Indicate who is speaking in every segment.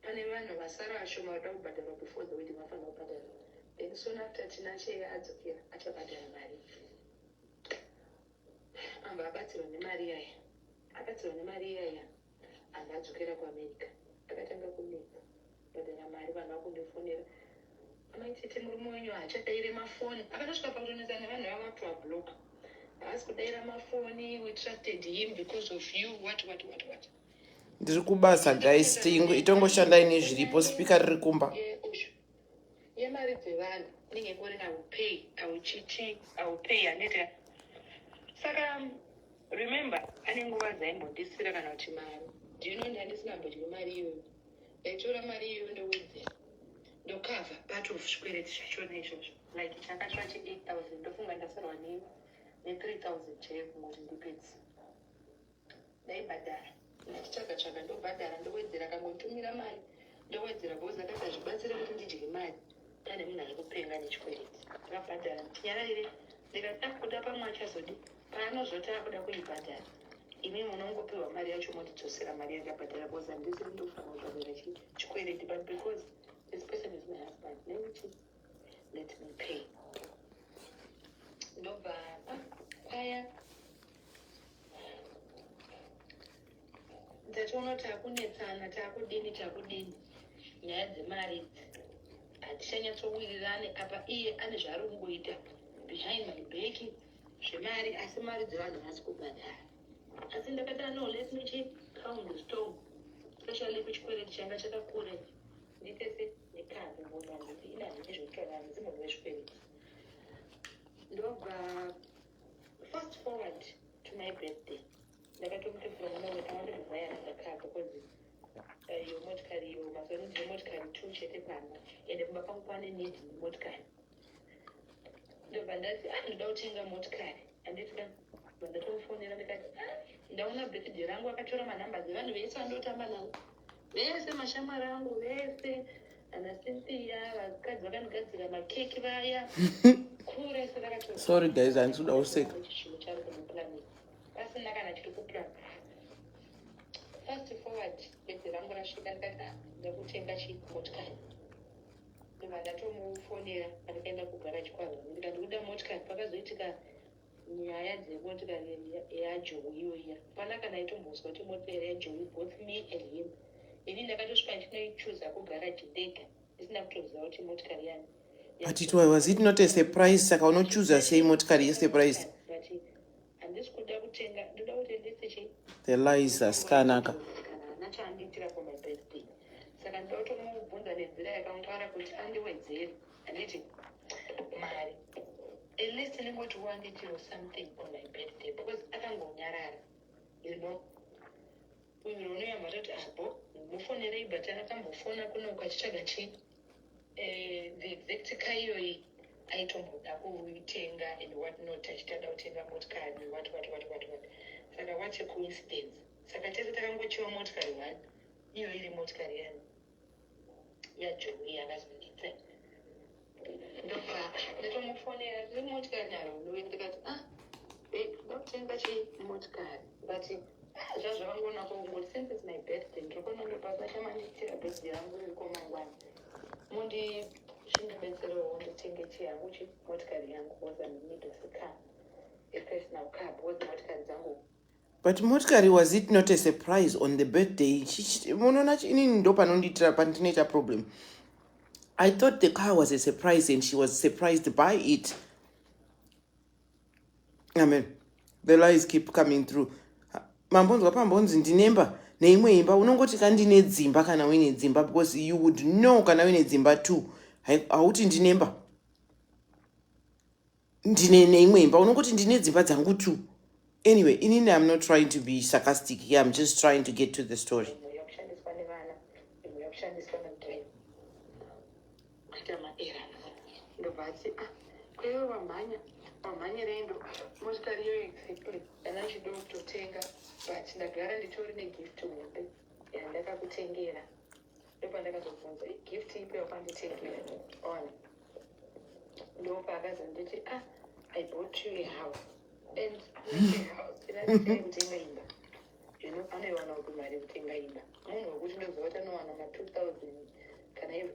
Speaker 1: Pane vanhu vasara vashoma vanoda kubhadharwa before the wedding vanofanira kubhadharwa then soon after Tinashe adzokera achabhadhara mari amba abatsirwa nemari iyaya abatsirwa nemari iyaya amba adzokera kuamerica akatanga kunetsa kubhadhara mari vanhu vakundifonera amaitete murume wenyu haachadaire mafoni akanosvika pakutonetsa nevanhu vava kuti vabloka haasi kudaira mafoni we trusted him because of you what what what what, what.
Speaker 2: ndiri kubasa guys itongoshanda ine zviripo spika riri kumba
Speaker 1: yemari dzevanhu inenge kuri aupay auchichi aupay aneta saka remember ane nguva dzaimbondisira kana kuti mari ndino ndandisina mbodyo mari iyoyo ndaitora mari iyoyo ndowedzera ndokava part of zvikwereti zvachona izvozvo like chakatsva che 8 000 ndofunga ndasarwa ne 3 000 chaiyo kungoti ndipedzi ndaibhadhara ndichitsvaga tsvaga ndobhadhara ndowedzera akangotumira mari ndowedzera bhozi akati hazvibatsire kuti ndidye mari pane munhu ari kupenga nechikwereti akabhadhara tinyararire ndikati akuda ah, pamwe achazodi paanozoti akuda kuibhadhara imi munongopiwa mari yacho motidzosera mari yakabhadhara bhozi handisiri ndofanira kutaura chikwereti but because this person is my husband nekuti let me pay ndobva kwaya tatoona kuti takunetsana takudini takudini nyaya dzemari idzi hatichanyatsowirirane apa iye ane zvaari kungoita behind my back zvemari asi mari dzevanhu hasi kubhadhara asi ndakati no let me check count the stone especially kuchikwereti changa chakakure Nditese ndikadzi mbona nditi ina ndine zvekutaura handisi munhu wezvikwembu. Ndobva fast forward to my birthday. Ndakatomutevura mwana wake awande kuvaya randakaka because eh, iyo motikari iyo mazuva ano ndine motikari two chete pamba ende kumba kwangu kwane need motikari. Ndobva ndati ah ndoda kutenga motikari handiti ka Ndobva ndatomufonera ndikati ah ndaona birthday rangu akatora manumber dzevanhu vese vandotamba navo Vese mashamwari angu vese ana Cynthia vakadzi vakandigadzira makeki vaya kure sevakato Sorry guys, handisi kuda
Speaker 2: kuseka. chinhu chari kumupurani
Speaker 1: pasina kana chiri kupurani fast forward bedzi rangu rasvika ndikati "Ah, ndakutenga chimotikari ndobva ndatomufonera andikaenda kugaraji kwavo ndikati ndikuda motikari pakazoitika nyaya dzemotikari yajoe iyoiya hapana kana aitombonzwa kuti motikari yajoe both me and him ini ndakatosvika ndichinoichuza kugaraji ndega isina kutoziva kuti motikari yani but it was
Speaker 2: it not a surprise saka unochuza sei motikari yesurprise
Speaker 1: handisi kuda kutenga ndoda kuti ndese chii the lies
Speaker 2: asikanaka
Speaker 1: saka ndotomubvunza nenzira yakangwara kuti andiwedzere handiti mari at least ndingoti wange chiro something on my birthday because akangonyarara you know uyo unoyamba toti abo mufonerei but akambofona kuno ukachitsvaga chi eh, the exact ka iyoyi aitomboda kuitenga and what not achitada kutenga motikari what what what what what saka what a coincidence saka tese takangochiwa motikari one iyo iri motikari yani yajowi yakazondita ndoka ndatomufonera tiri motikari naro ndoe ndikati ah ndokutenga chi motikari but ah, zvazvo vangoona kongoti since its my birthday ndrikuona ndopasasha mandiitira birthday yangu riko mangwana mundi chindibetserewo nditenge chi yangu chi motikari yangu was an need of a car a personal car because motikari dzangu But motikari
Speaker 2: was it not a surprise on the birthday? Munoona inini ndo panondiitira pandinoita problem. I thought the car was a surprise and she was surprised by it. Amen. The lies keep coming through. Mambonzwa pambonzi ndinemba neimwe imba unongoti ka ndine dzimba kana uine dzimba because you would know kana uine dzimba two hauti ndinemba ndine neimwe imba unongoti ndine dzimba dzangu two anyway inini im not trying to be sarcastic here im just trying to get to the story
Speaker 1: ndopandakazobvunza igift ipi yakwanditengera on ndopaakazonditi a ah, i bought you a house and house inaiee kutenga imba zvino anoiwana kuti mari yekutenga imba munhu wekuti ndoziva kuti anowana ma two thousand kana ivo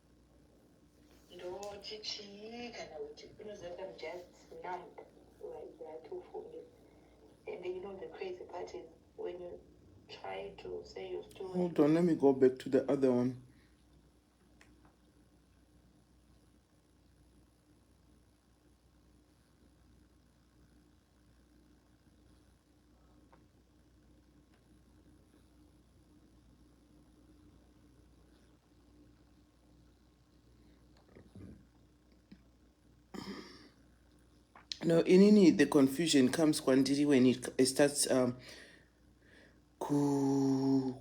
Speaker 1: ndoti chii kana kuti unozoita just numb like that ufunge and you know the crazy part is when you try to say your story hold on let me go back
Speaker 2: to the other one No, inini the confusion comes kwandiri when it starts um, ku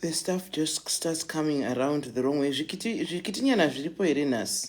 Speaker 2: the stuff just starts coming around the wrong way zvikitinyana zviripo here nhasi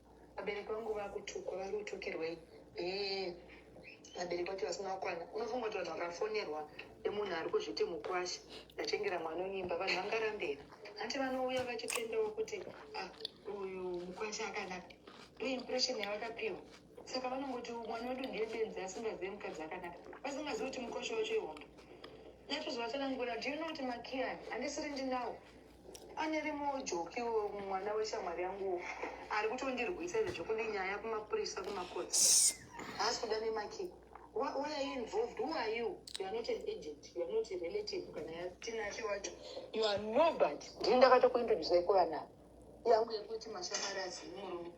Speaker 1: Vabereki vangu vakutukwa vari kutukirwei? Hee vabereki vacho vasina kukwana. Unofunga kuti vanhu vakafonerwa nemunhu ari kuzviti mukwasha ndatengera mwana unyimba vanhu vangarambei? Hanti vanouya vachitendawo kuti ah, uyu mukwasha akanaka. Iyo impression yavakapiwa. Saka vanongoti mwana wedu ndiye benzi asingazive mukadzi akanaka. Vasingazivi kuti mukwasha wacho ihombe. Natozovatalanguira, do you know kuti makiyani handisiri ndinawo? Pane rimwe ujoki mwana weshamwari yangu ari kutondirwisa izvezvo kune nyaya kumapurisa kumakoti haasi kuda nemakii Why, why are you involved? Who are you? You are not an agent. You are not a relative. Kana yatinashe wacho. You are nobody. Ndini ndakatokuintroduce iko vana. Yangu yekuti mashamari asi murume.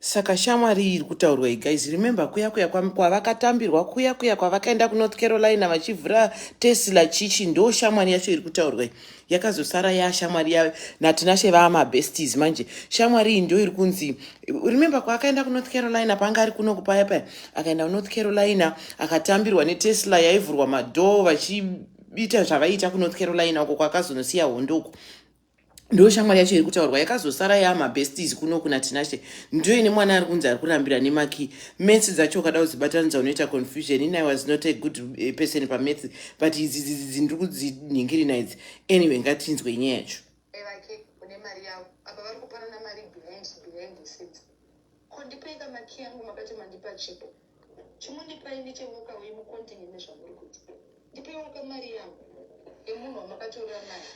Speaker 1: saka
Speaker 2: shamwari iyi iri kutaurwa igaizi remember kuya kuya kwavakatambirwa kuya kuya kwavakaenda kunorth carolina vachivhura tesla chichi ndo shamwari yacho iri kutaurwa yakazosara ya shamwari ya natinashe vaamabestes manje shamwari iyi ndo iri kunzi remember kwaakaenda kunorth carolina paanga ari kuno kupaya paya akaenda kunorth carolina akatambirwa netesla yaivhurwa madhoo vachiita zvavaiita kunorth carolina uko kwakazonosiya hondo uko ndo shamwari yacho iri kutaurwa yakazosara yama besties kuno kuna tinashe ndiyo ine mwana ari kunzi ari kurambira nemaki maths dzacho ukada kudzibatanidza unoita confusion ini i was not a good eh, person pamaths but idzi dzidzi dzini ndiri kudzinhingirina idzi anyway ngatinzwe nyaya yacho vake une
Speaker 1: mari yavo apa vari kupanana mari behind behind the scenes ko ndipeika maki yangu makati mandipa chipo Chimundipai nechevoka uye mukontinye nezvamuri kuti. Ndipeiwoka mari yangu yemunhu wamakatorera mari.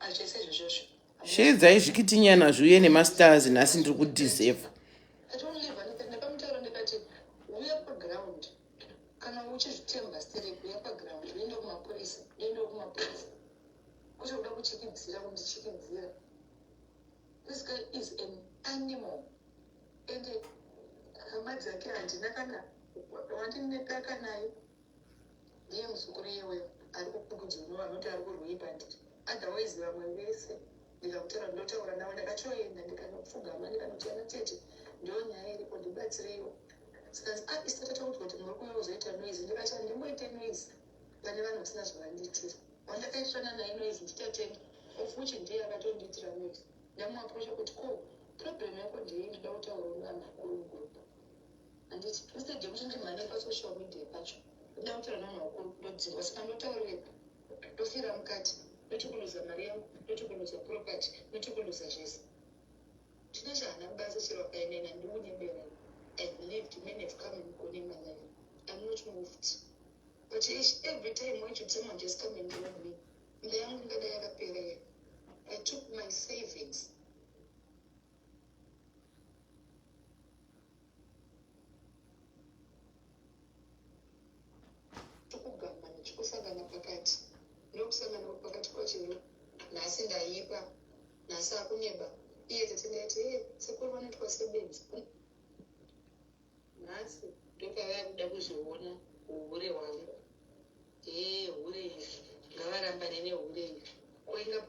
Speaker 1: Hazvese izvozvozvo. Sheedzai
Speaker 2: zvikitinyana zviuye nemastars nhasi ndiri kudiseva.
Speaker 1: This guy is an animal and hama dzake handina kana wandinepaka naye ndiye muzukuru yewe ari kukukudzunwa vanoti ari kurwei pandiri otherwise vamwe vese ndikakutora ndotaura navo ndakatoenda ndikanopfugama ndikanotiana tete ndo nyaya iripo ndibatsireiwo saka ah, isatatakuti kuti muri kuuya kuzoita noise ndikati handimboite noise pane vanhu kusina zvavandiitira wandakaisvana naye noise nditatenga of which ndiye akatondiitira noise ndamuaprocha kuti ko problem yako ndiyei ndoda kutaura nevanhu vakuru mugroup handiti instead yekuti ndimhane pasocial media pacho ndoda kutaura nevanhu vakuru ndodzingwa saka ndotaurepa ndofira mukati ndotikuluza mari yangu ndotikuluza property ndotikuluza zvese Chino chahana kubasa chero akainena ndiunyebera I believed men have come and gone in my life. I'm not moved. But each, every time when you someone just come and rob me, mba yangu ingada yakaperera. I took my savings. kusangana pakati nokusangana pakati kwachero nhasi ndaipa nhasi akuneba iye tete ndaiti e sekuru vanoitwa sebenzi nhasi ndopavaya kuda kuzviona uhure hwangu ee hure izvi ngavarambane nehure izvi koinga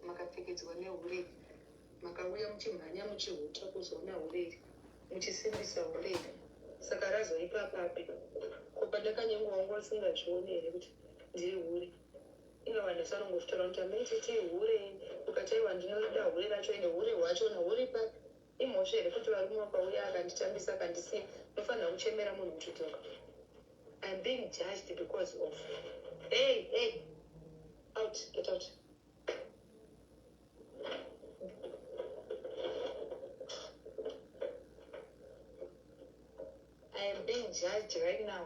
Speaker 1: makapfekedzwa nehure makauya muchimhanya muchihuta kuzoona hure iri muchisimbisa hure iri saka razoipa papi ko pandakanyengwa wangu asingazvione here kuti ndiri hure Ino vanhu vesalongo kutaura kuti amai titi ihure ukati aiwa ndinorida hure racho ende hure hwachona huri papi imhosva here kuti varume wakauya akanditambisa akandisiya ndofanira kuchemera munhu muchidzoka I'm being judged because of hey hey out get out I am being judged right now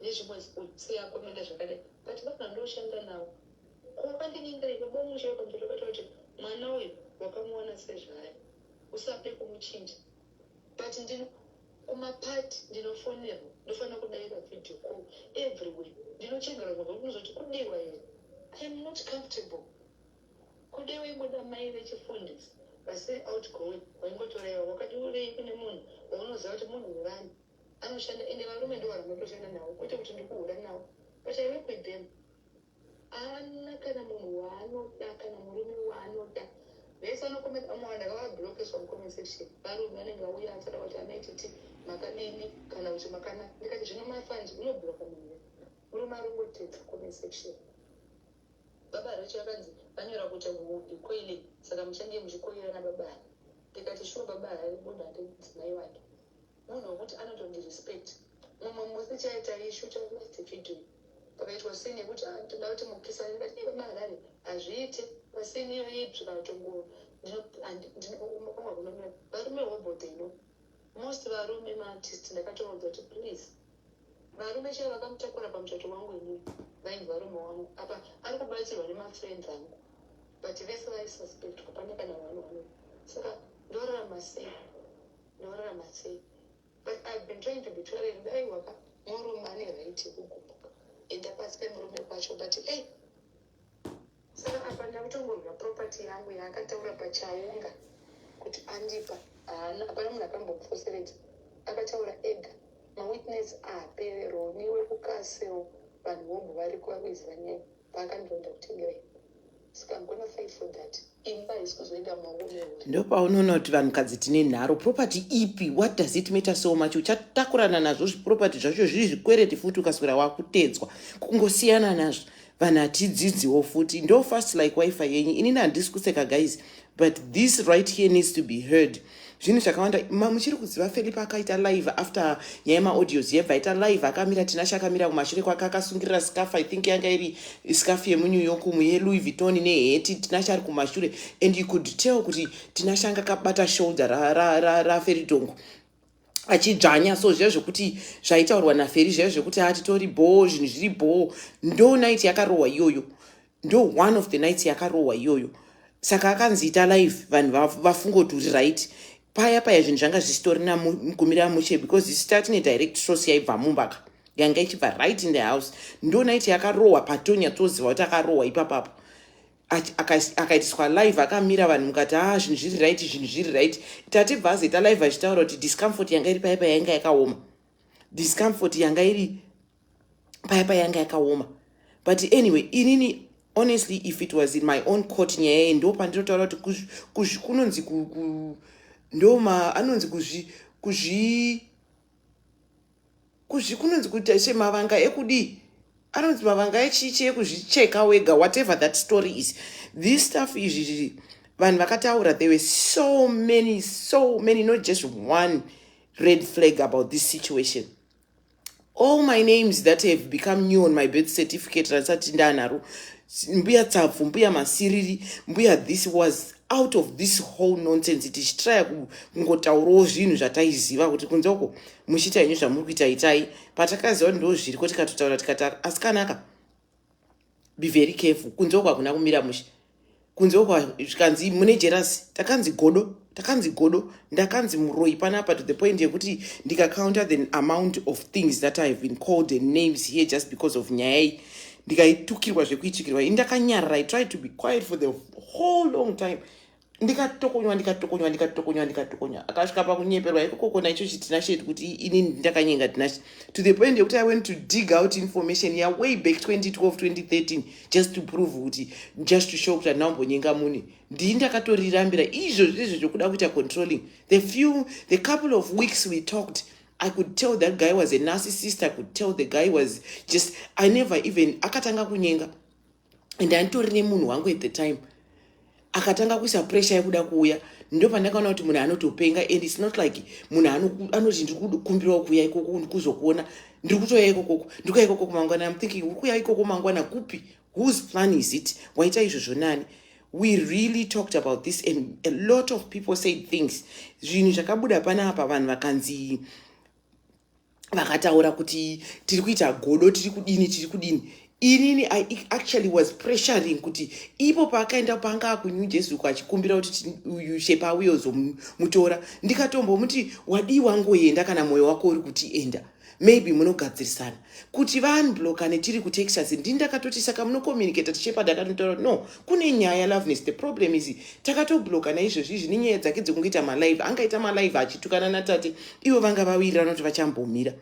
Speaker 1: nezvimwe zikutsiya komenda zvakadai but vanhu vandoshanda nawo ko vandinyengera iwe bomusha wepamberi vakaita kuti mwana uyu wakamuwana sezvaari usade kumuchinja but ndino kumapati ndinofonerwa ndofanira kudaira video call everywhere ndinochengerwa kubva kunozoti kudiwa here iam not comfortable kude waingoda mai vechifundisi vasiri outgoing waingotoraiwa wakati urei kune munhu waunoziva kuti munhu wevani anoshanda ende varume ndo vanhu vanotoshanda navo kwete kuti ndikuhura navo but i work with them ana kana munhu waanoda kana murume waanoda vese vanokometa vamwe vanhu ndakavablokeswa mucomment section varume vanenge vauya atsada kuti anaititi makadini kana kuti makana ndikati zvino mafanzi unobloka munhu murume arongotedza comment section baba recho akanzi vanyora kuti hudi koile saka muchange muchikoirana baba ndikati shuwa baba haibuda ndidzimai wake munhu wekuti anotondi respect mumwe musi chaita ishu chakuti video pakaitwa sini yekuti ah, toda kuti mukisane ndati vemaharare hazviite pasini iyo ipi vatongo ndinokumwa kunomira varume hobode ino most varume maartist ndakatovaudza kuti please varume chero vakamutakura pamuchato wangu ini vainzi varume wangu apa ari kubatsirwa nemafriends angu but vese vaisuspect kupane kana vanhu vano saka ndorarama sei Ndorarama sei? But I've been trying to be tolerant. Dai waka murume ane right yekugumbuka. Enda pasi pemurume kwacho but hey. Saka apa ndakutongonzwa property yangu yaakataura pachaunga kuti andipa. Haana hapana munhu akambomufoseredza. Akataura ega. Mawitness aapere roni wekukaseo vanhu vobva variko vakuiziva nyaya. paakandironda kuti ndiwe saka I'm gonna fight for that imba haisi kuzoenda mumaoko mehure ndopaunoona kuti
Speaker 2: vanhukadzi tine nharo property ipi what does it matter so much uchatakurana nazvo zviproperty zvacho zviri zvikwereti futi ukaswera wakutedzwa kungosiyana nazvo vanhu hatidzidziwo futi ndo fast like wifi yenyu inini handisi kuseka guys but this right here needs to be heard zvinhu zvakawanda ma muchiri kuziva felipe akaita live after nyaya yemaaudios yebva aita live akamira tinashe akamira kumashure kwake akasungirira scaff i think yanga iri scaff yemunew york umu yelouis vuitton neheti tinashe ari kumashure and you could tell kuti tinashe anga akabata shoulder raferidongo ra, ra, ra achidzvanya so zviya zvekuti zvaitaurwa naferi zviya zvekuti atitori bhoo zvinhu zviri bhoo ndo night yakarohwa iyoyo ndo one of the nights yakarohwa iyoyo saka akanzi ita live vanhu vafunga kuti uri right paya paya zvinhu zvanga zvisitorina mukumira mushe because isita tine direct source yaibva mumbaka yanga ichibva right in the house ndo night yakarohwa patonya toziva kuti akarohwa ipapapo akaitiswa live akamira vanhu mukati a ah, zvinhu zviri right zvinhu zviri right tatibva azoita live achitaura kuti discomfort yanga iri paya paya yanga yakaoma discomfort yanga iri paya paya yanga yakaoma but anyway inini honestly if it was in my own court nyaya iyi ndo pandinotaura kuti kuzvi kunonzi ndoma anonzi kuzvi kuzvi kuzvi kunonzi kuita se mavanga ekudii anonzi mavanga echichi ekuzvicheka wega whatever that story is this stuff izvi zviri vanhu vakataura there were so many so many not just one red flag about this situation all my names that have become new on my birth certificate randisati ndanaro mbuya tsabvu mbuya masiriri mbuya this was out of this whole nonsense tichitraya kungotaurawo zvinhu zvataiziva kuti kunze uko muchiita henyu zvamuri kuita itai patakaziva kuti ndo zviri ko tikatotaura tikati asikanaka be very careful kunze uko hakuna kumira mushe kunze uko zvikanzi mune jerasi takanzi godo takanzi godo ndakanzi muroyi panapa to the point yekuti ndikacounter the amount of things that i have been called and names here just because of nyaya iyi ndikaitukirwa zvekuitukirwa ini ndakanyarara i tried to be quiet for the whole long time ndikatokonywa ndikatokonywa ndikatokonywa ndikatokonywa akasvika pakunyeperwa ikokokona icho chitina shet kuti ini ndakanyenga tinashe to the point yekuti i went to dig out information ya way back 2012 2013 just to prove kuti just to show kuti handina kumbonyenga mune ndii ndakatorirambira izvo zvirizvo zvokuda kuita controlling the few the couple of weeks we talked I could tell that guy was a narcissist. I could tell the guy was just, I never even, akatanga kunyenga. and anditori nemunhu wangu at the time akatanga kuisa pressure yekuda kuuya ndo pandakaona kuti munhu anotopenga and its not like munhu anoti ndiri kukumbirawo kuuya ikoko kuzokuona ndiri kutouya ikokoko ndikuya ikokoko mangwana am thinking uri kuya ikoko mangwana kupi whose plan is it waita izvozvo nani we really talked about this and a lot of people said things zvinhu zvakabuda panapa vanhu vakanzi vakataura kuti tiri kuita godo tiri kudini tiri kudini inini i actually was pressuring kuti ipo paakaenda panga akunew jersey uko achikumbira kuti uyu shepa auye uzomutora ndikatombomuti wadii wangoenda kana mwoyo wako uri kuti enda maybe munogadzirisana kuti vanbloka netiri kutexas ndini ndakatoti saka munocommunicata tishepa ndakatotaura kuti no kune nyaya loveness the problem is takatobloka naizvezvi izvi nenyaya dzake dzekungoita malive angaita malive achitukana natate ivo vanga vawirirana kuti vachambomira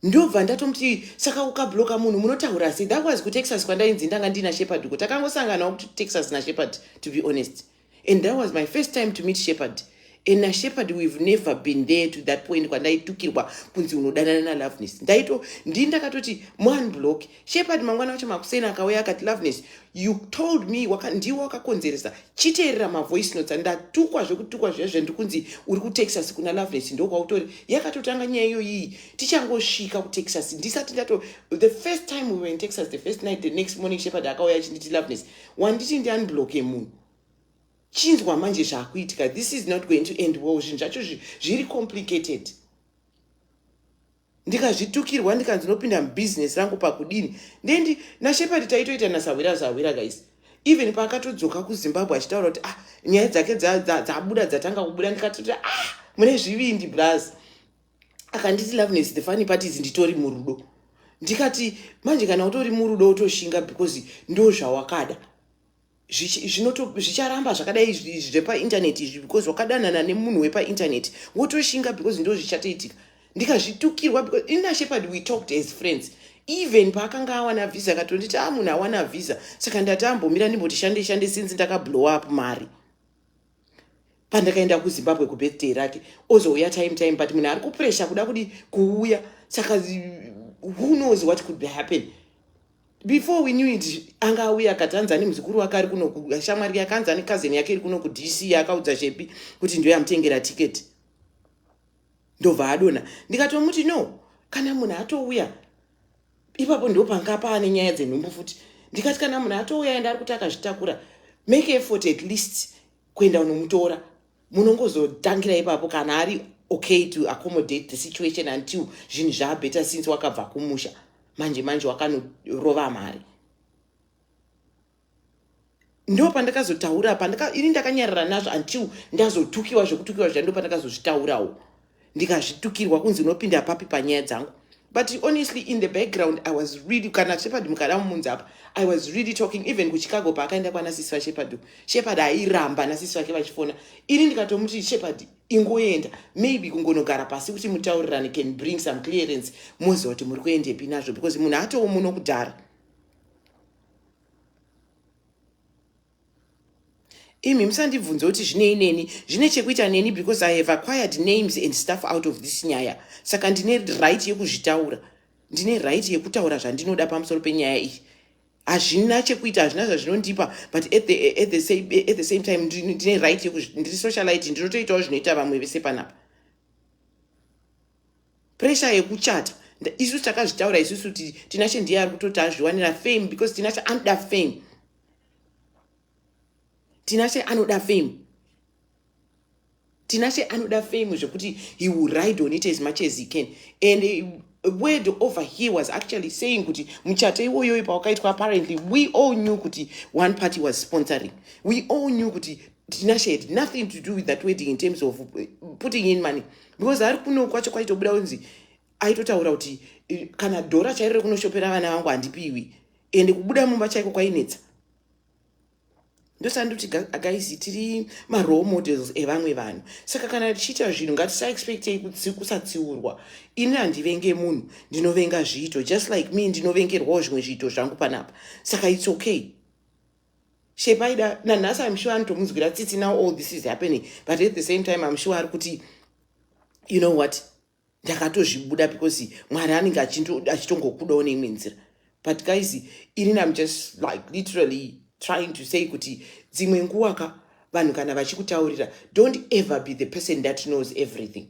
Speaker 2: ndobva ndatomuti saka ukabloka munhu munotaura sei that was kutexas kwandainzi ndanga ndina shepherd uko takangosanganawo kutexas nashepard to be honest and that was my first time to meet shepherd and nashepherd we've never been there to that point kwandaitukirwa kunzi unodanana naloveness ndaito ndii ndakatoti one block shepherd mangwana wacho makuseni akauya akati loveness you told me waka, ndiwo wakakonzeresa chiteerera mavoice notes ndatukwa zvekutukwa zviya zvendi kunzi uri kutexas kuna loveness ndokwautori yakatotanga nyaya iyoyii tichangosvika kutexas ndisati ndato the first time we were in texas the first night the next morning shepherd akauya achinditi loveness wanditi ndiunblocke munhu chinzwa manje zvakuitika this is not going to end well zvinhu zvacho zviri complicated ndikazvitukirwa ndikanzi ndinopinda mubusiness rangu pakudini ndendi nashepard taitoita nasahwira zahwira guys even paakatodzoka kuzimbabwe achitaura kuti ah nyaya dzake dzabuda dzatanga kubuda ndikatoti ah mune zvivindi braz akanditi loveness the funny part is nditori murudo ndikati manje kana utori murudo utoshinga because ndo zvawakada zvicharamba zvakadai izvi zvepainternet izvi because wakadanana nemunhu wepainternet wotoshinga because ndo zvichatoitika ndikazvitukirwa because inashepard we talked as friends even paakanga awana visa akatonditi a ah, munhu awana visa saka ndati ambomira ndimboti shande shande since ndakablow up mari pandakaenda kuzimbabwe kubirthday rake ozouya time time but munhu ari kupresha kuda kudi kuuya saka who knows what could be happen before we knew it anga auya akati anzi ane muzukuru wake ari kunoshamwari yake anzi ane kazeni yake iri kuno kudc yakaudza chepi kuti ndiyo yamutengera tiketi ndobva adona ndikatomuti no kana munhu atouya ipapo ndo panga paane nyaya dzenhumbu futi ndikati kana munhu atouya enda ari kuti akazvitakura make effort at least kuenda unomutora munongozotangira ipapo kana ari okay to accommodate the situation until zvinhu zvaabeta since wakabva kumusha manje manje wakanorova mari ndo pandakazotaura pandaka ini ndakanyarara nazvo until ndazotukiwa zvekutukiwa zviya ndo pandakazozvitaurawo ndikazvitukirwa kunzi unopinda papi panyaya dzangu but honestly in the background i was really kana shepard mukada mumunzi apa i was really talking even kuchicago paakaenda kwana sisi vashepard shepard airamba nasisi vake vachifona ini ndikatomuti shepard ingoenda maybe kungonogara pasi kuti mutaurirane can bring some clearance moziva kuti muri kuendepi nazvo because munhu atowo muno kudhara imi musandibvunze kuti zvinei neni zvine chekuita neni because i have acquired names and stuff out of this nyaya saka ndine right yekuzvitaura ndine right yekutaura zvandinoda pamusoro penyaya iyi hazvina chekuita hazvina zvazvinondipa but at the, at the, same, at the same time ndine right yekuzviri socialite ndinotoitawo zvinoita vamwe vese panapa pressure yekuchata isusu takazvitaura isusu kuti tinashe ndiye ari kutoti azviwanira fame because tinashe anoda fame tinashe anoda fame tinashe anoda fame zvekuti he will ride on it as much as he can and uh, word over he was actually saying kuti muchato iwoyoyo pawakaitwa apparently we all knew kuti one party was sponsoring we all knew kuti tinashe had nothing to do with that wedding in terms of uh, putting in money because ari kuno kwacho kwaitobuda kunzi aitotaura kuti kana dhora chairo rekunoshopera vana vangu handipiwi ende kubuda mumba chaiko kwainetsa ndosandoti guys tiri marole models evamwe vanhu saka kana tichiita zvinhu ngatisaexpectei kusatsiurwa ini handivenge munhu ndinovenga zviito just like me ndinovengerwawo zvimwe zviito zvangu panapa saka its okay Shame aida nanhasi I'm sure anotomunzwira tsitsi now all this is happening but at the same time I'm sure ari kuti you know what ndakatozvibuda because mwari anenge achitongokudawo neimwe nzira but guys irini I'm just like literally trying to say kuti dzimwe nguwa ka vanhu kana vachikutaurira don't ever be the person that knows everything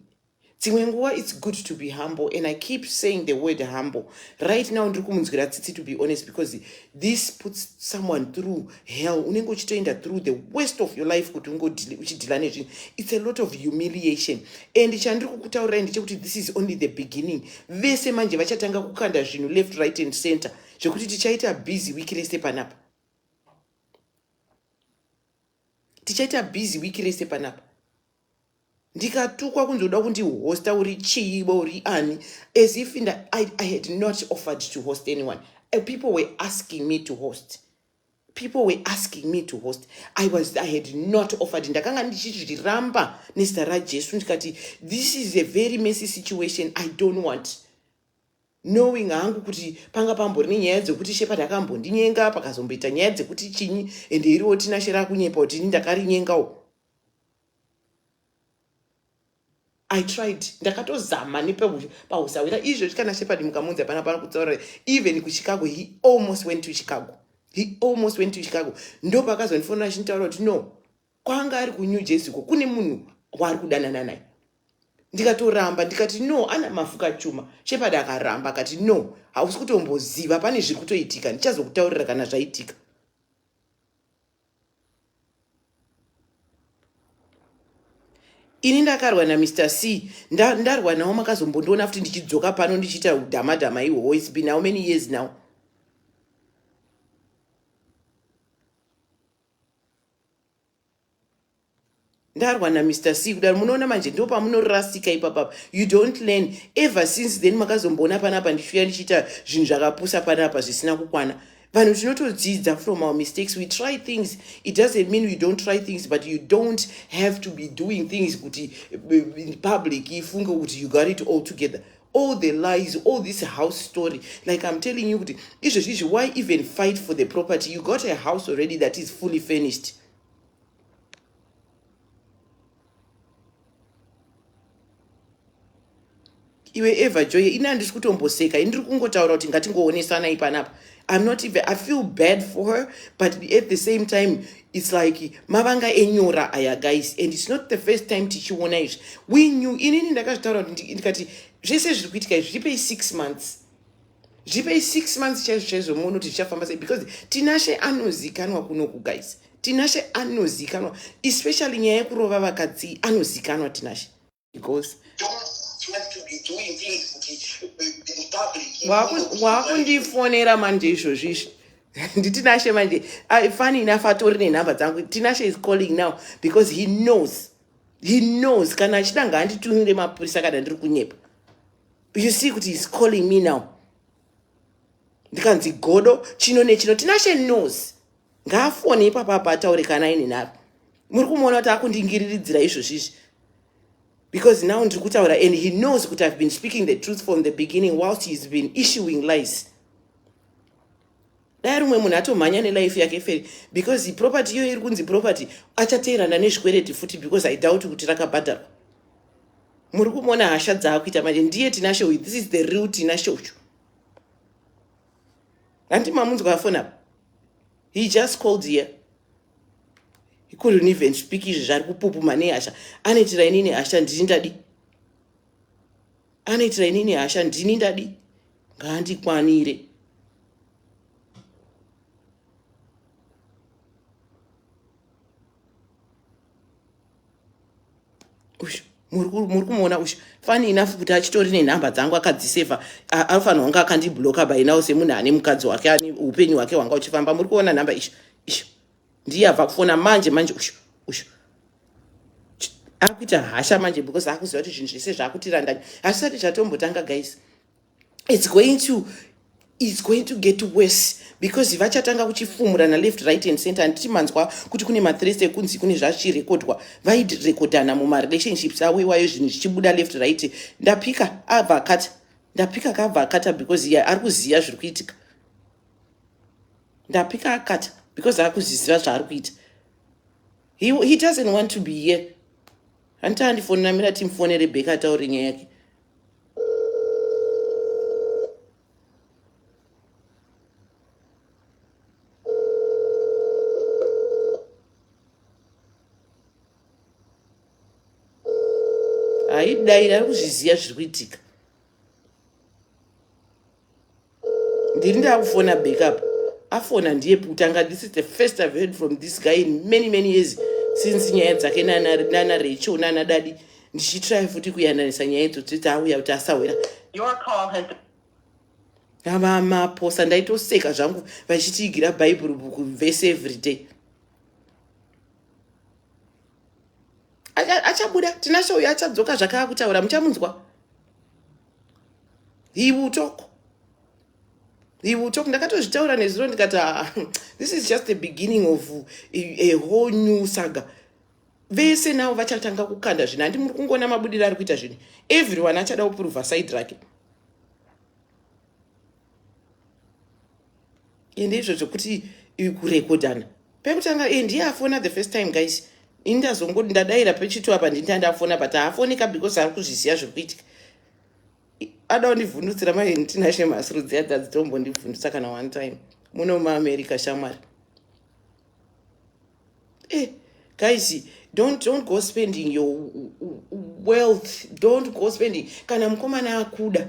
Speaker 2: Dzimwe nguva it's good to be humble and I keep saying the word humble. Right now ndiri kumunzwira tsitsi to be honest because this puts someone through hell. Unenge uchitoenda through the worst of your life kuti unge uchidhila nezvinhu. It's a lot of humiliation and chandiri kukutaurirai ndechekuti this is only the beginning. Vese manje vachatanga kukanda zvinhu left right and center zvekuti tichaita busy week rese panapa. tichaita busy week rese panapa ndikatukwa kunzi uda kundihosta uri chiiba uri ani as if nda, I, i had not offered to host anyone uh, people were asking me to host people were asking me to host i was i had not offered ndakanga ndichizviramba nezita rajesu ndikati this is a very messy situation i don't want knowing hangu kuti panga pambori nenyaya dzekuti shepherd akambondinyenga pakazomboita nyaya dzekuti chinyi ende iriwo tinashe rakunyepa kuti ini ndakarinyengawo i tried ndakatozama nepahusawira izvo zvikana shepherd mukamunzi hapana pana kutsaurira even kuchicago he almost went to chicago he almost went to chicago ndopakazondifonera chintaura kuti no kwaanga ari kunew jersey ko kune munhu waari kudanana naye ndikatoramba ndikati no ana mafuka chuma shepadi akaramba akati no hausi kutomboziva pane zviri kutoitika ndichazokutaurira kana zvaitika ini ndakarwa namr c ndarwa nawo makazombondiona futi ndichidzoka pano ndichiita udhamadhama ihwowo its been how many years now ndarwa na Mr C kudaro munoona manje ndipo pamunorasika ipapapa you don't learn ever since then makazomboona panapa ndichiuya ndichiita zvinhu zvakapusa panapa zvisina kukwana vanhu tinotodzidza from our mistakes we try things it doesn't mean we don't try things but you don't have to be doing things kuti eh, public ifunge kuti you got it all together all the lies all this house story like i'm telling you kuti izvezvi izvi why even fight for the property you got a house already that is fully furnished iwe ever joye ini handisi kutomboseka ini ndiri kungotaura kuti ngatingoonesanai panapa I'm not even, I feel bad for her, but at the same time, it's like mavanga enyora aya guys and it's not the first time tichiona izvi we knew inini ndakazvitaura kuti ndikati zvese zviri kuitika izvi zvipei six months zvipei six months chaizvo chaizvo muone kuti zvichafamba sei because tinashe anozikanwa kunoku guys tinashe anozikanwa especially nyaya yekurova vakadzi anozikanwa tinashe
Speaker 3: because waakundifonera
Speaker 2: manje izvozvi izvi nditinashe manje ah, funny enough atori nenhamba dzangu tinashe is calling now because he knows he knows kana achida ngaanditumire mapurisa kana ndiri kunyepa you see kuti he's calling me now ndikanzi godo chino nechino tinashe knows ngaafone ipapa apa ataure kana aine nharo muri kumuona kuti akundingiriridzira izvozvi izvi because now ndiri kutaura and he knows kuti i've been speaking the truth from the beginning whilst he's been issuing lies dai rumwe munhu atomhanya nelife yake feri because property iyoyo iri kunzi property achateerana nezvikwereti futi because i doubt kuti rakabhadharwa muri kumona hasha dzaakuita manje ndiye tinashe uyu this is the real tinashe uyu handi mamunzwa afoni apa he just called here he couldn't even speak izvi zvari kupupuma nehasha anoitira inini hasha ndiri ndadi anoitira inini hasha ndini ndadi ngaandikwanire uyu muri kumuona uyu fani enough kuti achitori nenhamba dzangu akadziseva anofanira kunge akandibloka by now semunhu ane mukadzi wake ane upenyu hwake hwanga uchifamba muri kuona nhamba izvi izvi ndiye abva kufona manje manje ushu ushu akuita hasha manje because akuziva kuti zvinhu zvese zvaakutirandanya hazvisati zvatombotanga guys its going to its going to get worse because vachatanga kuchifumurana left right and center handiti manzwa kuti kune mathreats ekunzi kune zvazvichirekodwa vairekodhana mumarelationships avo iwayo zvinhu zvichibuda left right ndapika abva akata ndapika kabva akata because ye ari kuziva zviri kuitika ndapika akati because akuzviziva zvaari kuita he, he doesn't want to be here hanti andifonera mira timufonere bheka ataure nyaya yake haidai ari kuzviziva zviri kuitika ndini ndakufona backup afona ndiye kutanga this is the first i've heard from this guy in many many years since nyaya dzake nana rachel nana dadi ndichitry futi kuyananisa nyaya idzo dzoti auya kuti asahwera
Speaker 3: avamaposa
Speaker 2: ndaitoseka zvangu vachitiigira bhaibheri bhuku vese everyday achabuda acha tinashe uyo achadzoka zvakaa kutaura muchamunzwa he will talk he will talk ndakatozvitaura nezuro ndikati ah, this is just the beginning of a, a whole new saga vese navo vachatanga kukanda zvinhu handi muri kungoona mabudiro ari kuita zvinhu everyone achada kupruvha side rake ende izvo zvekuti kurekodana pekutanga iyi ndiye afona the first time guys ini ndazongoti ndadaira pechitu apa ndinda ndafona but haafoneka because ari kuzviziva zviri kuitika ada kundivhundutsira maini tinashe mhasuru dziya dzadzitombondivhundutsa kana one time muno muamerica shamwari Eh, guys, don't, don't go spending your wealth. Don't go spending. Kana mukomana akuda,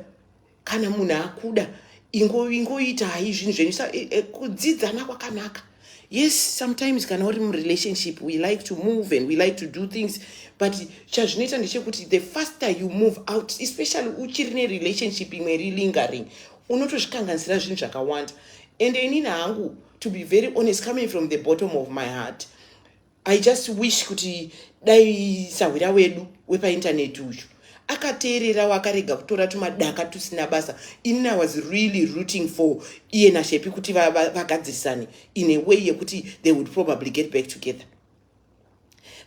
Speaker 2: kana munhu akuda, ingoita hai zvinhu zvenyu eh, eh, kudzidzana kwakanaka yes sometimes kana uri murelationship we like to move and we like to do things but chazvinoita ndechekuti the faster you move out especially uchiri nerelationship imwe iri lingering unotozvikanganisira zvinhu zvakawanda ende inini hangu to be very honest coming from the bottom of my heart i just wish kuti dai sahwira wedu wepaintaneti uyu akateererawo akarega kutora tumadaka tusina basa ini i was really rooting for iye nashepi kuti vagadzirisane va, va in a way yekuti they would probably get back together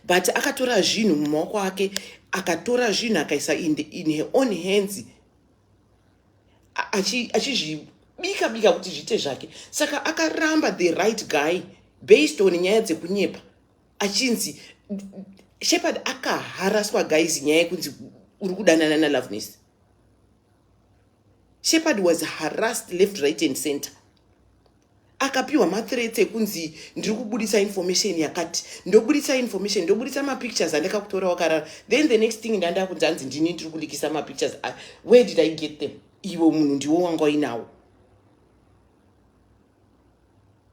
Speaker 2: but akatora zvinhu mumaoko ake akatora zvinhu akaisa in, in her own hands achizvibika bika kuti zviite zvake saka akaramba the right guy based on nyaya dzekunyepa achinzi shepard akaharaswa guys nyaya yekunzi uri kudanana naloveness shepard was harassed left right and center akapiwa mathreats ekunzi ndiri kubudisa information yakati ndobudisa information ndobudisa mapictures andakakutora wakarara then the next thing ndanda kunzi anzi ndini ndiri kulikisa mapictures ah, where did i get them ivo munhu ndiwo wanga uinawo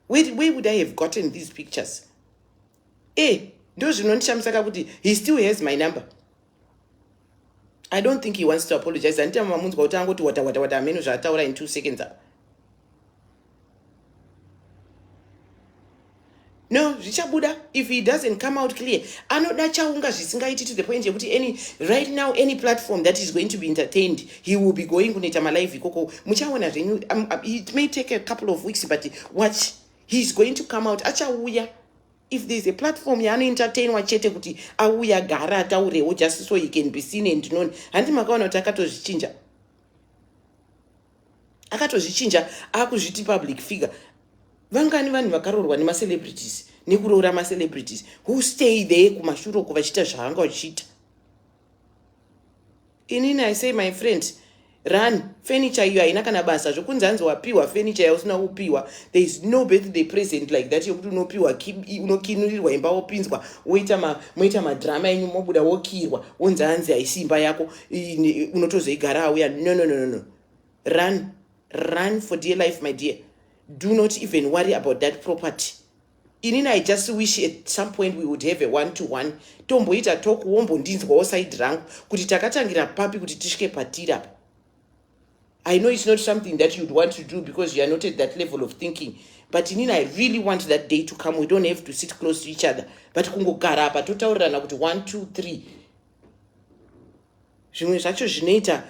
Speaker 2: where, where would i have gotten these pictures e eh, ndozvinondishamisa kakuti he still has my number I don't think he wants to apologize. Handiti mamunzwa kuti angoti wata wata wata ameno zvaataura in two seconds apa. No, zvichabuda if he doesn't come out clear. Anoda chaunga zvisingaiti to the point yekuti any right now any platform that is going to be entertained, he will be going kunoita malive ikoko. Muchaona zvenyu um, uh, it may take a couple of weeks but watch. He is going to come out achauya. if there is a platform yaanoentertainwa chete kuti auya gara ataurewo just so he can be seen and known handi makaona kuti akatozvichinja akatozvichinja akuzviti public figure vangani vanhu vakaroorwa nemacelebrities nekuroora macelebrities who stay there kumashuroko vachiita zvaanga vachiita inini i say my friend run furniture iyo haina kana basa zvekunzi hanzi wapiwa furniture yausina kupiwa there is no birthday present like that yokuti unopiwa unokinurirwa imba wopinzwa woita moita madrama enyu mobuda wokirwa wonzi hanzi haisi imba yako unotozoigara auya no no no no run run for dear life my dear do not even worry about that property Inini I just wish at some point we would have a one to one tomboita talk wombondinzwawo side rangu kuti takatangira papi kuti tisvike patiri apa. I know it's not something that you'd want to do because you are not at that level of thinking but inini I really want that day to come we don't have to sit close to each other but kungogara apa totaurirana kuti one two three zvimwe zvacho zvinoita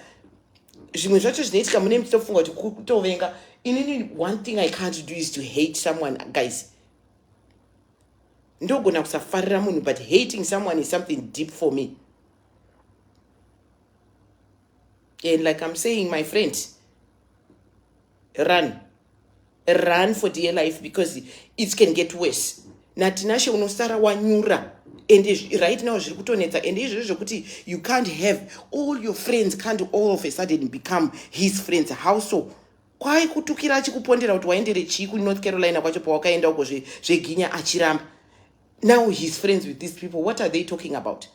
Speaker 2: zvimwe zvacho zvinoitika mune muchitofunga kuti kutovenga inini one thing i can't do is to hate someone guys ndogona kusafarira munhu but hating someone is something deep for me and like i'm saying my friend run run for dear life because it can get worse natinashe unosara wanyura and right now zviri kutonetsa and izvozvo zvekuti you can't have all your friends can't all of a sudden become his friends how so kwai kutukira achikupondera kuti waendere chii kunorth carolina kwacho pawakaenda uko zveginya zve achiramba now his friends with these people what are they talking about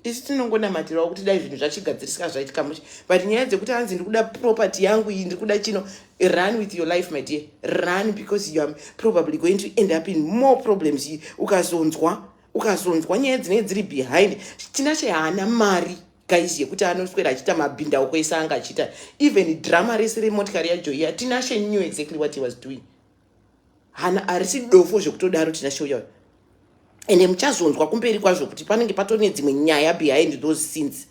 Speaker 2: isu tinongonamatirawo kuti dai zvinhu zvachigadzirisika zvaitika mushe but nyaya dzekuti hanzi ndiri kuda property yangu iyi ndiri kuda chino run with your life my dear run because you are probably going to end up in more problems ukazonzwa ukazonzwa nyaya dzinenge dziri behind china chehaana mari guys yekuti anoswera achiita mabhindauko ese anga achiita even drama rese remotikari yajoyi atinashe knew exactly what he was doing hana arisi dofo zvekutodaro tinashe uya ende muchazonzwa kumberi kwazvo kuti panenge patone dzimwe nyaya behind those scenes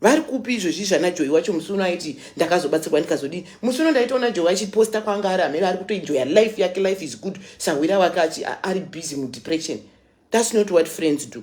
Speaker 2: vari kupi izvozvi zvana joyi wacho musi uno aiti ndakazobatsirwa ndikazodii musi uno ndaitoona joyi achiposta kwanga ari amene ari kutoenjoya life yake life is good sahwira wake achi ari busy mudepression thats not what friends do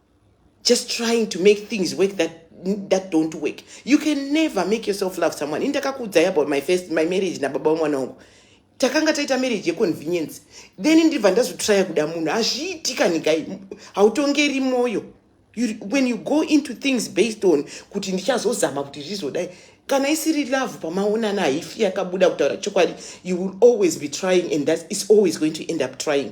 Speaker 2: just trying to make things work that that don't work you can never make yourself love someone ini ndakakuudzai about my first my marriage nababa wemwana wangu takanga taita marriage yeconvenience then ndibva ndazotraya kuda munhu hazviiti kanikai hautongeri mwoyo when you go into things based on kuti ndichazozama kuti zvizodai kana isiri love pamaonana haifi yakabuda kutaura chokwadi you will always be trying and that is always going to end up trying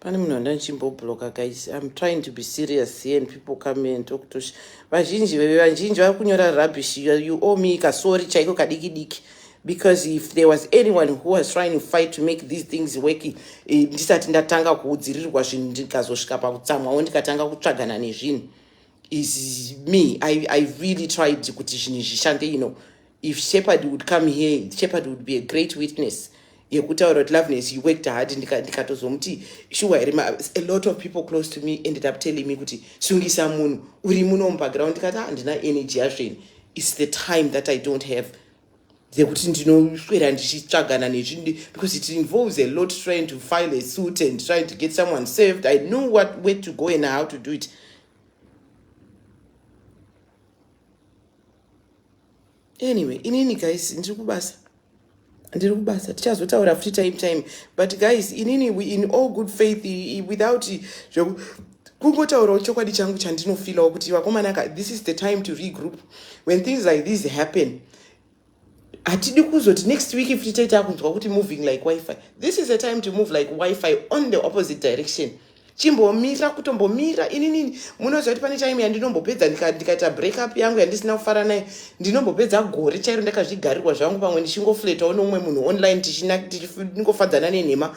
Speaker 2: pane munhu anda ndichimbobloka guys im trying to be serious here and people come here and talk to vazhinji veve vazhinji vari kunyora rubbish you owe me kasori chaiko kadiki diki because if there was anyone who was trying to fight to make these things work eh, ndisati ndatanga kuudzirirwa zvinhu ndikazosvika pakutsamwawo ndikatanga kutsvagana nezvinhu is me I, i really tried kuti zvinhu zvishande you know if shepherd would come here shepherd would be a great witness yekutaura kuti loveness you worked hard ndikatozomuti nika shuwa here a lot of people close to me ended up telling me kuti sungisa munhu uri muno mubackground ndikati ah, handina energy yazveni its the time that i don't have dzekuti ndinoswera ndichitsvagana nezvi because it involves a lot trying to file a suit and trying to get someone served i know what way to go and how to do it anyway inini guys ndiri kubasa ndiri kubasa tichazotaura futi time time but guys inini in all good faith without Kungotaurawo chokwadi changu chandinofilawo kuti vakomana ka this is the time to regroup when things like these happen hatidi kuzoti next week futi taita kunzwa kuti moving like wifi this is a time to move like wifi on the opposite direction chimbomira kutombomira ininini munoziva kuti pane time yandinombopedza ndikaita breakup yangu yandisina kufara naye ndinombopedza gore chairo ndakazvigarirwa zvangu pamwe ndichingofletawo nomumwe munhu online tichiningofadzana nenhema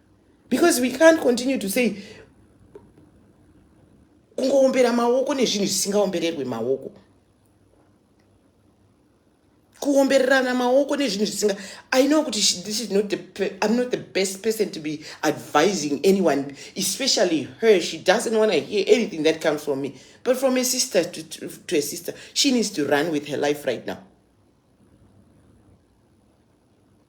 Speaker 2: because we can't continue to say kungoombera maoko nezvinhu zvisingaombererwe maoko kuombererana maoko nezvinhu zvisinga i know kuti this is not the i'm not the best person to be advising anyone especially her she doesn't want to hear anything that comes from me but from a sister to, to, to a sister she needs to run with her life right now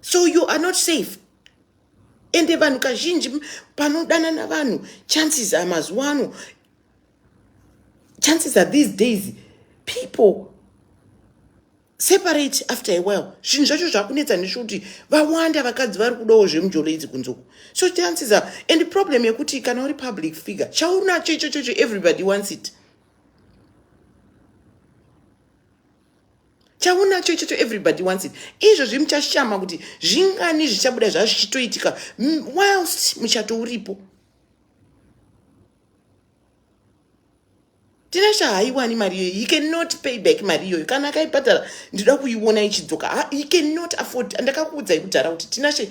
Speaker 2: so you are not safe ende vanhu kazhinji panodanana vanhu chances are mazuva ano chances are these days people separate after a while zvinhu zvacho zvakunetsa nezvekuti vawanda vakadzi vari kudawo zvemujolo idzi kunzoko so chances are and problem yekuti kana uri public figure chaunacho ichochocho everybody wants it chaunacho ichocho everybody wants it izvozvi muchashama kuti zvingani zvichabuda zvaa zvichitoitika whilst muchato uripo tina chahaiwani mari iyoyo he cannot pay back mari iyoyo kana akaibhadhara ndinoda kuiona ichidzoka ah, he cannot afford ndakakuudzai kudhara kuti tinashe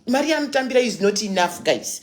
Speaker 2: mari yaanotambira is not enough guys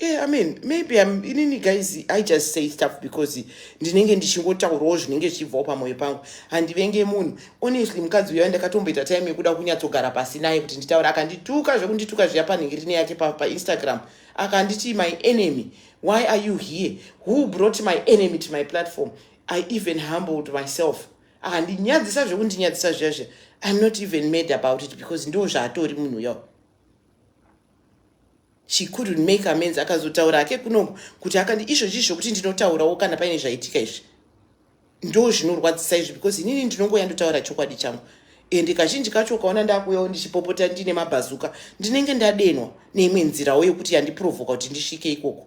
Speaker 2: Yeah, I mean, maybe I'm inini guys, I just say stuff because ndinenge ndichingotaurawo zvinenge zvichibvawo pamwoyo pangu. Handivenge munhu. Honestly, mukadzi uya ndakatomboita time yekuda kunyatsogara pasi naye kuti nditaure. Akandituka zvekundituka zviya panhingirini yake pa, pa Instagram. Akanditi my enemy. Why are you here? Who brought my enemy to my platform? I even humbled myself. handinyadzisa zvekundinyadzisa zviya zviya iam not even made about it because ndo zvaatori munhu uya she couldn't make amends akazotaura ake kuno kuti akandi izvo chii zvokuti ndinotaurawo kana paine zvaitika izvi ndo zvinorwadzisa izvi because inini ndinongoya ndotaura chokwadi changu ende kazhinji kacho ukaona ndakuyawo ndichipopota ndine mabhazuka ndinenge ndadenwa neimwe nzirawo yokuti yandiprovoka kuti ndisvike ikoko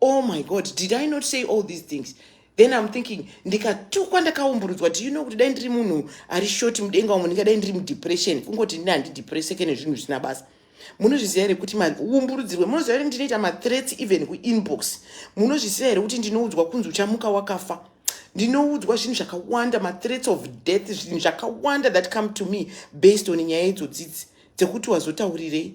Speaker 2: oh my god did i not say all these things then im thinking ndikatukwa ndakaumburudzwa do you know kuti dai ndiri munhu ari short mudenga umo ndingadai ndiri mudepression kungoti ndini handidepresseke nezvinhu zvisina basa munozviziva here kuti maumburudzirwe munoziva here ndinoita mathreats even kuinbox munozviziva here kuti ndinoudzwa kunzi uchamuka wakafa ndinoudzwa zvinhu zvakawanda mathreats of death zvinhu zvakawanda that come to me based on nyaya idzodzidzi dzekuti wazotaurirei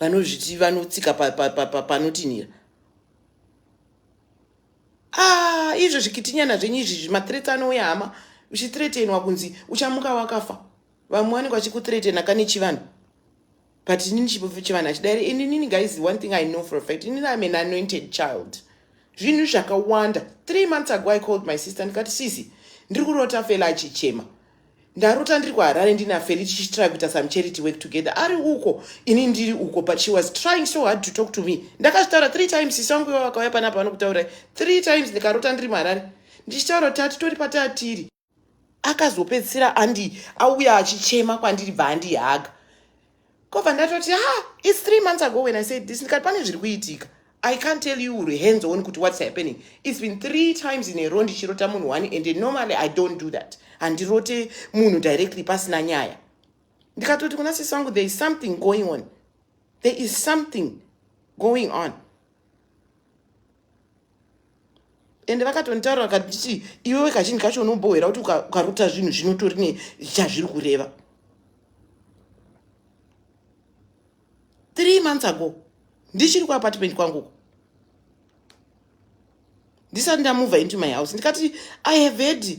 Speaker 2: vanozviti vanotsika panotinhira ah, izvo zvikitinyana zvenyu izvi zvimathreats anouya hama uchithretenwa kunzi uchamuka wakafa vamwe vanenge vachikuthretena kane chivanhu but inini chivanhu achidairi ininini guys one thing i know for a fact inini im an anointed child zvinhu zvakawanda three months ago i called my sister ndikati sisi ndiri kurota fela achichema ndarota ndiri kuharare ndina feli tichitry kuita some charity work together ari uko ini ndiri uko but she was trying so hard to talk to me ndakazvitaura three times sisi wangu iva vakauya pana apa vanokutaurai three times ndikarota ndiri muharare ndichitaura kuti hatitori patatiri akazopedzisira andi auya achichema kwandiri bva andihaga kobva ndatoti ha its three months ago when i said this ndikati pane zviri kuitika i can't tell you uri hands on kuti what's happening its been three times in a row ndichirota munhu one and normally i don't do that handirote munhu directly pasina nyaya ndikatoti kuna sisi vangu there is something going on there is something going on ende vakatonditaura vakanditi iwewe kazhinji kacho unombohwera kuti ukarota zvinhu zvinotori ne chazviri kureva three months ago ndichiri kuapartment kwanguko ndisati ndamova into my house ndikati i have heard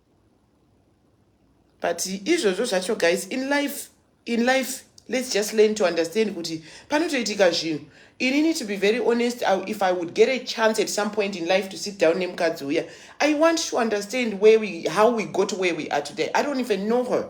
Speaker 2: but izvozvo zvacho guys in life in life let's just learn to understand kuti panotoitika zvinhu inini to be very honest I, if i would get a chance at some point in life to sit down nemukadzi uya i want to understand where we, how we got where we are today i don't even know her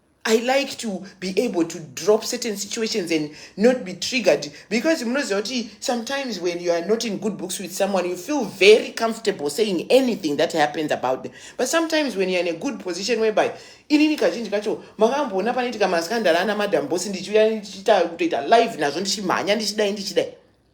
Speaker 2: I like to be able to drop certain situations and not be triggered because sometimes when you are not in good books with someone, you feel very comfortable saying anything that happens about them. But sometimes when you're in a good position whereby inini kazhinji kacho makamboona panoitika maskandal ana madam boss ndichiuya ndichiita kutoita live nazvo ndichimhanya ndichidai ndichidai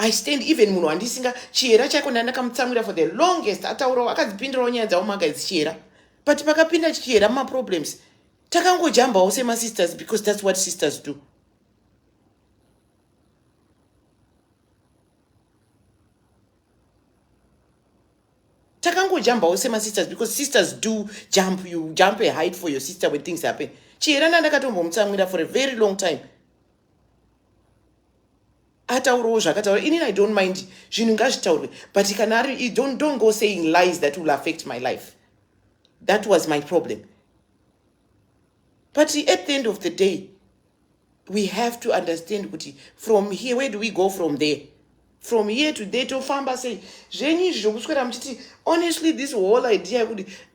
Speaker 2: I stand even munhu wandisinga chihera chaiko ndandakamutsamwira for the longest ataurawo akadzipindirawo nyaya dzavo maga idzi chihera but pakapinda chihera mumaproblems takangojambawo semasisters because thats what sisters do takangojambawo semasisters because sisters do jump you jump a height for your sister when things happen chihera ndandakatombomutsamwira for a very long time ataurewo zvakataura inini i don't mind zvinhu ngazvitaurwe but kana ari don't, don't go saying lies that will affect my life that was my problem but at the end of the day we have to understand kuti from here where do we go from there from here to there tofamba sei zvenyu izvi zvokuswera muchiti honestly this whole idea yekuti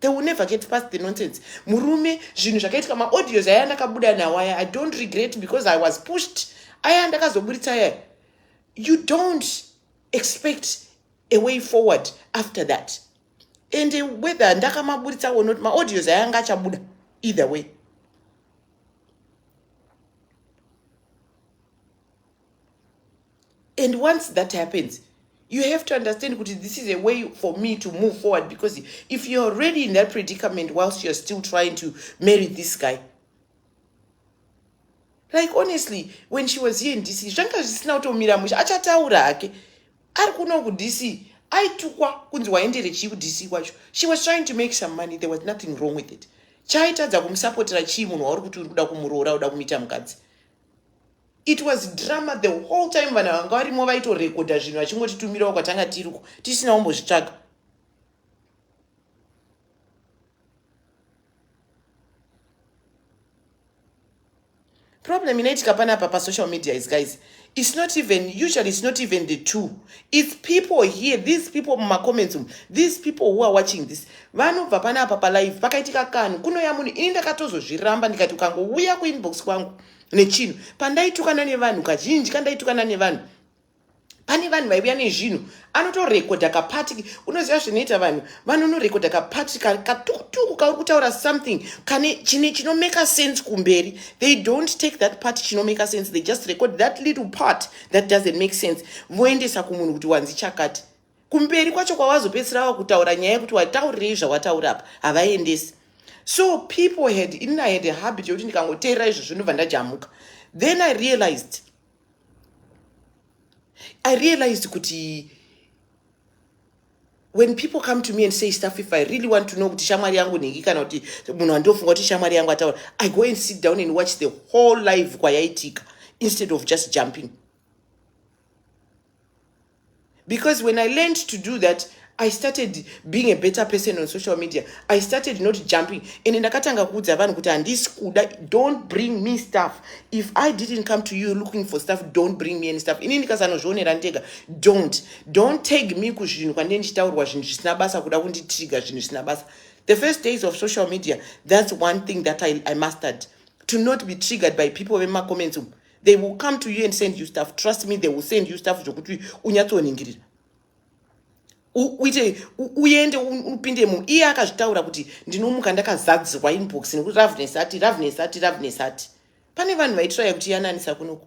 Speaker 2: they will never get past the nonsense murume zvinhu zvakaitika maaudios aya ndakabuda nawo aya i don't regret because i was pushed aya ndakazoburitsa aya you don't expect a way forward after that and whether ndakamaburitsa or not maaudios aya anga achabuda either way and once that happens you have to understand kuti this is a way for me to move forward because if you're already in that predicament whilst you're still trying to marry this guy like honestly when she was here in dc zvanga zvisina kutomira musha achataura hake ari kuno kudc aitukwa kunzi waendere chii kudc kwacho she was trying to make some money there was nothing wrong with it chaitadza kumusapotera chii munhu wauri kuti uri kuda kumuroora uda kumuita mukadzi It was drama the whole time vanhu vanga varimo vaitorekodha zvinhu vachingotitumirawo kwatanga tiriko tisina kumbozvitsvaga problem inoitika panapa pasocial media is guys it's not even usually it's not even the two it's people here these people mumacomments um these people who are watching this vanobva panapa palive pakaitika kanhu kunoya munhu ini ndakatozozviramba ndikati ukangouya kuinbox kwangu nechinhu pandaitukana nevanhu kazhinji kandaitukana nevanhu pane vanhu vaiuya nezvinhu anotorekodha kapati unoziva zvinoita vanhu vanonorekodha kapati katukutuku kauri kutaura something kane chine chinomeka sense kumberi they don't take that part chinomeka sense they just record that little part that doesn't make sense voendesa kumunhu kuti wanzi chakati kumberi kwacho kwawazopedzisira wava kutaura nyaya yekuti wataurirei zvawataura apa havaendesi so people had in i had a habit yekuti ndikangoteerera izvo zvinobva ndajamuka then i realized i realized kuti when people come to me and say stuff if i really want to know kuti shamwari yangu nhingi kana kuti munhu andofunga kuti shamwari yangu ataura i go and sit down and watch the whole live kwayaitika instead of just jumping because when i learned to do that i started being a better person on social media i started not jumping and ndakatanga kuudza vanhu kuti handisi kuda don't bring me stuff if i didn't come to you looking for stuff don't bring me any stuff ini ndikasanozvionera ndega don't don't tag me kuzvinhu kwandine ndichitaurwa zvinhu zvisina basa kuda kunditriga zvinhu zvisina basa the first days of social media that's one thing that i, I mastered to not be triggered by people vemacomments umu they will come to you and send you stuff trust me they will send you stuff zvokuti unyatsoningirira uite uende upinde mu iye akazvitaura kuti ndinomuka ndakazadzirwa inbox nekuti ravnes ati ravnes ati ravnes ati pane vanhu vaitiraya kuti yananisa kunoku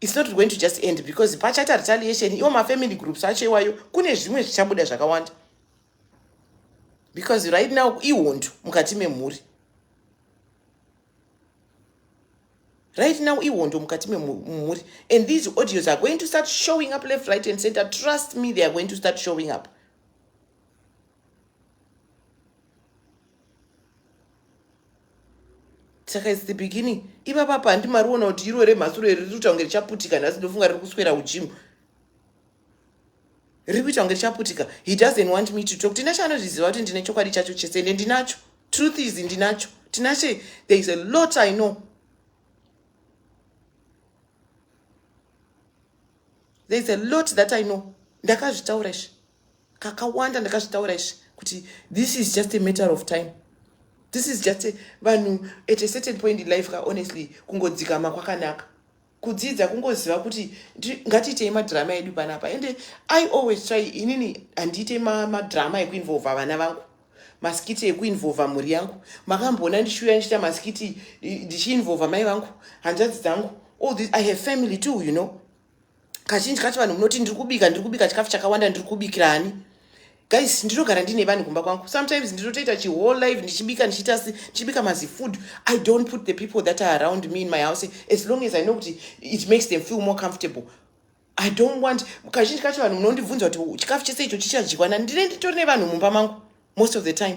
Speaker 2: its not going to just end because pachaita retaliation iwo mafamily groups acho iwayo kune zvimwe zvichabuda zvakawanda because right now ihondo mukati memhuri right now ihondo mukati memhuri and these audios are going to start showing up left right and center trust me they are going to start showing up saka its the beginning iva papa handi mariona kuti iro remhasuro iri riri kuita kunge richaputika nhasi ndofunga riri kuswera ujimu riri kuita kunge richaputika he doesn't want me to talk tinashe anozviziva kuti ndine chokwadi chacho chese ende ndinacho truth is ndinacho tinashe there is a lot i know there is a lot that i know ndakazvitaura izvi kakawanda ndakazvitaura izvi kuti this is just a matter of time this is just vanhu at a certain point in life ka honestly kungodzikama kwakanaka kudzidza kungoziva kuti ngatiitei madhirama edu panapa ende i always try inini handiite madhirama ekuinvolva vana vangu masikiti ekuinvolva mhuri yangu makamboona ndichiuya ndichiita masikiti ndichiinvolva mai vangu hanzvadzi dzangu all this i have family too you know kazhinji kacho vanhu munoti ndiri kubika ndiri kubika chikafu chakawanda ndiri kubikira ani guys ndinogara ndine vanhu kumba kwangu sometimes ndinotoita chihole life ndichibika ndichiita si ndichibika mazifood i don't put the people that are around me in my house as long as i know kuti it makes them feel more comfortable i don't want kazhinji kacho vanhu munondibvunza kuti chikafu chese icho chichadyiwa nani ndine nditori nevanhu mumba mangu most of the time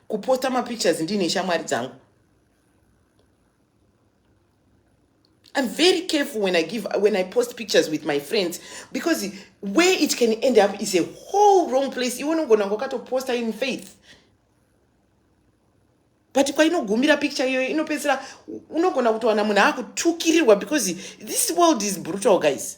Speaker 2: kuposta mapictures ndiine shamwari dzangu I'm very careful when I give when I post pictures with my friends because where it can end up is a whole wrong place. You want to go and go to poster in faith. But kwa ino gumira picture yo ino pesira uno gona kutowana muna haku tukirirwa because this world is brutal guys.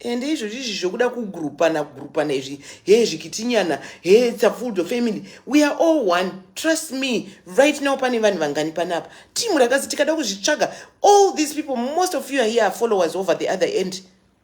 Speaker 2: ende izvozvi izvi zvokuda kugrupana kugrupana izvi hee zvikitinyana hee it's a full of family we are all one trust me right now pane vanhu vangani panapa team rakazi tikada kuzvitsvaga all these people most of you are here are followers over the other end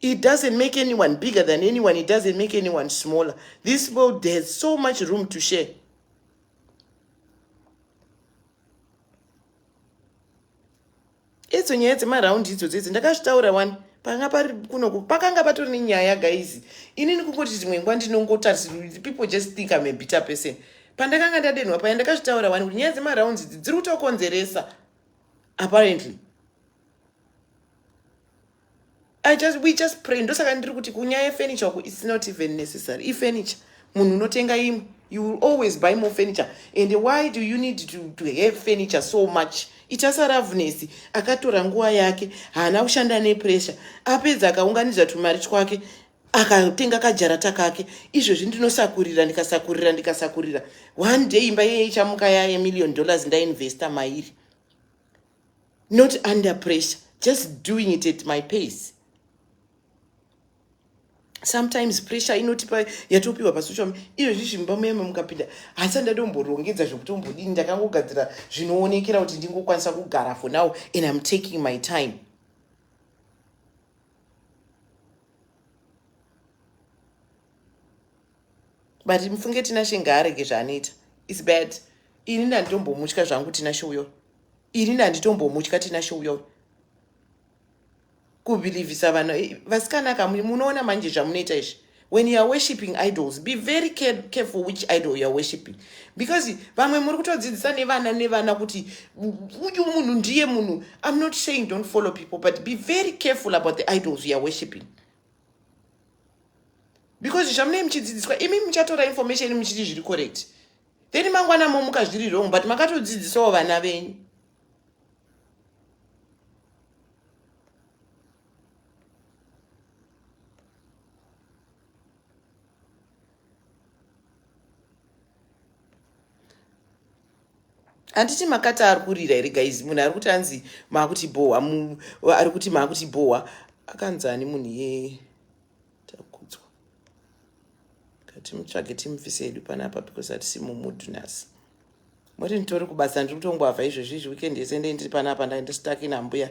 Speaker 2: It doesn't make anyone bigger than anyone. It doesn't make anyone smaller. This world has so much room to share. Idzo nyaya dzemaround idzo dzedzi ndakazvitaura wani panga pari kuno pakanga patori nenyaya guys inini kungoti dzimwe nguva ndinongotarisa people just think I'm a bitter person pandakanga ndadenhwa paya ndakazvitaura wani kuti nyaya dzemarounds idzi dziri kutokonzeresa apparently I just, we just pray ndosaka ndiri kuti kunyaya yefurniture uku its not even necessary ifurniture munhu unotenga imwe you will always buy more furniture and why do you need to, to have furniture so much ichasaravnesi akatora nguva yake haana kushanda nepressure apedza akaunganidza tumari twake akatenga kajarata kake izvezvi ndinosakurira ndikasakurira ndikasakurira one day imba yeye ichamuka yaye million dollars ndainvesta mairi not under pressure just doing it at my pace sometimes pressure inotipa yatopiwa pasocial iyo zvizvimba muyema mukapinda hasa ndadomborongedza zvekuti ombodini ndakangogadzira zvinoonekera kuti ndingokwanisa kugara for now and im taking my time but mufunge tinashe ngaarege zvaanoita is bad ini ndanditombomutya zvangu tinashe uyo ini ndanditombomutya tinashe uyo kubhilivhisa vanhu eh, vasikana ka munoona manje zvamunoita izvi when you are worshipping idols be very careful which idol you are worshipping because vamwe muri kutodzidzisa nevana nevana kuti uyu munhu ndiye munhu i'm not saying don't follow people but be very careful about the idols you are worshipping because zvamunei muchidzidziswa imi muchatora information muchiti zviri correct then mangwana momuka zviri wrong but makatodzidzisawo vana venyu handiti makati ari kurira here guys munhu ari kuti anzi maakuti bhohwa ari kuti maakuti bhohwa akanzi ani munhu ye takudzwa katimutsvage timufise yedu panapa because hatisi mumudhu nhasi moti nditori kubasa ndiri kutongoavha izvezvi izvi weekend yese ndei ndiri panapa ndaindistakinambuya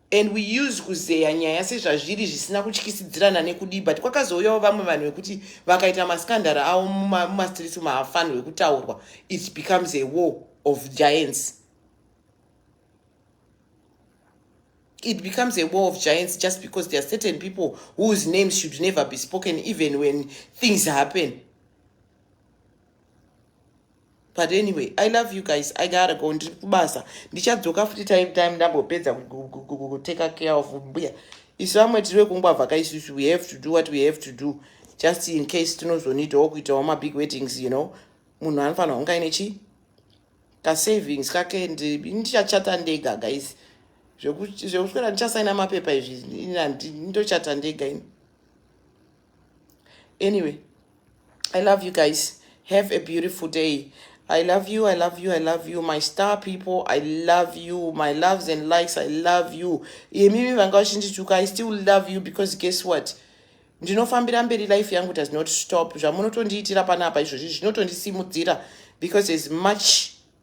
Speaker 2: and we use kuzeya nyaya sezvazviri zvisina kutyisidzirana nekudii but kwakazouyawo vamwe vanhu vekuti vakaita maskandara avo mumastreets umu haafanirwe kutaurwa it becomes a war of giants it becomes a war of giants just because there are certain people whose names should never be spoken even when things happen but anyway i love you guys i gotta go ndiri kubasa ndichadzoka futi time time ndambopedza kuteka care of mbuya isu vamwe tiri vekungwavha ka isusu we have to do what we have to do just in case tinozonedawo kuitawo mabig weddings you know munhu anofanira kunge aine chii kasavings kake ndichachata ndega guys zvekuswera ndichasaina mapepa izvi ndochata ndega ini anyway i love you guys have a beautiful day i love you i love you i love you my star people i love you my loves and likes i love you imimi vanga vachindituka i still love you because guess what ndinofambira mberi life yangu does not stop zvamunotondiitira panapa izvozvi zvinotondisimudzira because as much